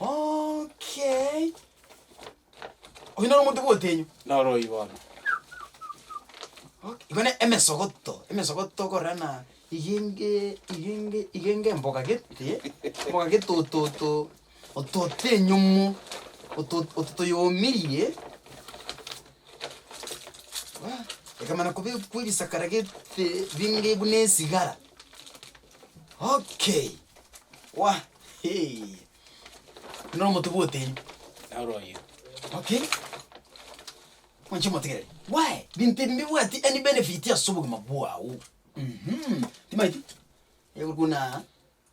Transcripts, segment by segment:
Okay. Oyio noro omonto bwa otenyo. Noro oyio bono. Okay. Igo ne emesogoto. Emesogoto okorora na igenge igenge igenge mboga gete. Mboga gete ototo ototo enyomo. Ototo ototo yomirie. Wah. Ekamana kobe kwe ebisakara gete binge buna esigara. Okay, wa hee. Buna omote bw'oteni. Na oro oyio. Okay. Mwanche motegereri. Why? Binto ebi mbibwati any benefit ase obogima bwao. Mhm. Timaeti? Egokuna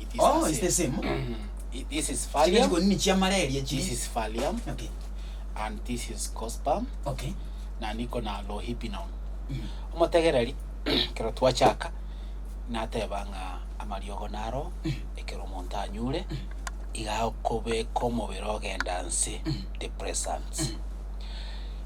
It is Oh, the it's the same. same. Mm. It- This is Chiga Valium, chikonini chia malaria this chiri. is Valium, Okay. and this is Cospam, Okay. na niko na Lohibinon. Mm. Omotegereri ekero twachaka nateba ng'a amariogo naro ekero omonto anyure iga okobeka omobere ogenda nse depressants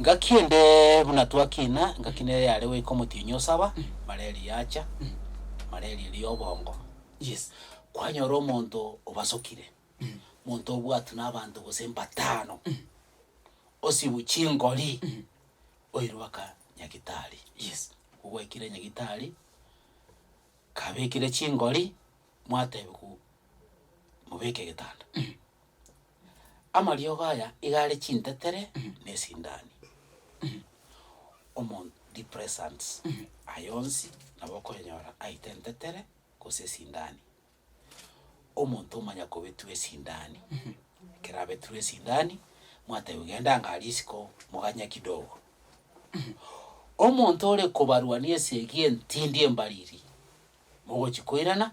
ngaki ende buna twakina ngaki nere yare goika omotienyi osaba malaria yacha malaria eri ya obongo Yes, kwanyora omonto obasokire, omonto obwatwe na abanto gose mbatano, osibu chingori, oirwe aka nyagitari. Yes. Ogwekire nyagitari, kabekire chingori, mwatebiwa mobeke egetanda. Amariogo aya iga are chintetere na esindani. Omonto depressants aya onsi nabo okonyora aite entetere gose esindani. Omonto omanya kobetua esindani, ekero abetirwe esindani, mwatebwa genda ng'a risiko moganye kidogo. Omonto ore kobarwania esegi entindi embariri, mogochi koirana.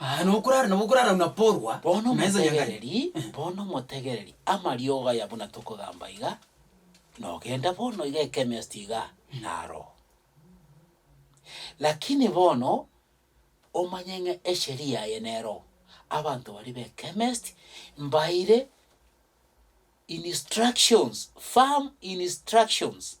Aa, nokorara nabo okorara buna porwa, Bono na ensa y'engari. motegereri, bono motegereri, amariogo aya buna tokogamba iga, nogenda bono iga echemist iga, naro. Lakini bono, omanye ng'a esheria eye nero, abanto baria b'echemist, mbaeire instructions, firm instructions.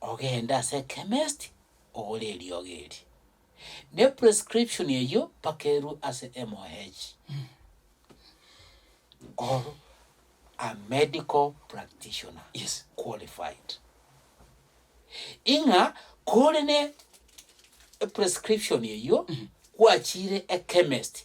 ogende ase ekemesti ogore eriogo eri, na eprescription eyio mpaka erwe ase MOH, or a medical practitioner Yes. qualified. Ing'a kore ne eprescription eyio, gwachiire ekemesti,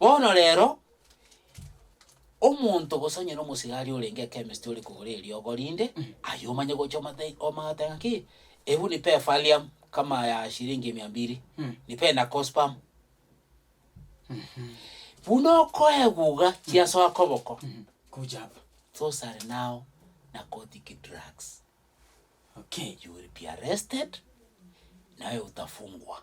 Bono rero, omonto gose onye nomosigari orenge ekemist ore kogora eriogo rinde, aye omanye gocha omate- omagotenga ng'a ki, ebu nipe efalium kama ya shiringi mia mbiri, Mm. nipe na cospam. Buna okoeguga chiasoa koboko, Kuja hapa. those are now narcotic drugs. Okay. You will be arrested, naye otafungwa.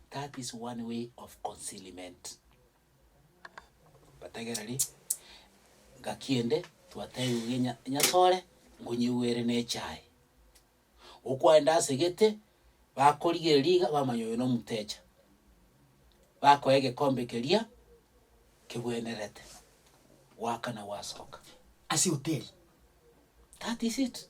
That is one way of concealment. Batagera ri, gaki ende twatebiwe ge nya- nyasore ngonyigwere ne echae. Okwaenda ase gete, bakorigereria iga bamanya oyo nomutecha. Bakoa egekombe keria kebwenerete, gwakana gwasoka. Ase hoteli. That is it.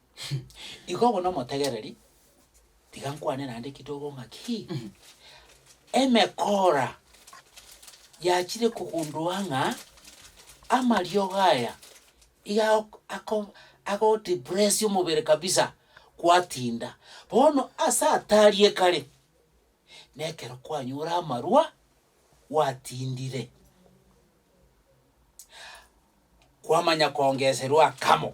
Igo buna omotegereri, tiga nkwane naende kidogo ng'aki, emekora yachire kogundoa ng'a amariogo aya iga ako- ako- agodepressia omobere kabisa, gwatinda. Bono ase atari ekare, na ekero kwanyora amarwa, gwatindire, kwamanya koongeserwa akamo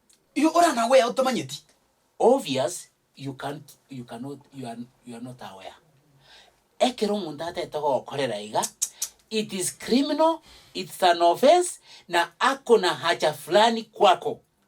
Igo ore an aware otamanyeti? Obvious you can't you cannot you are you are not aware ekero omonto ataete gokorera iga it is criminal it's an offence na ako na haja fulani kwako.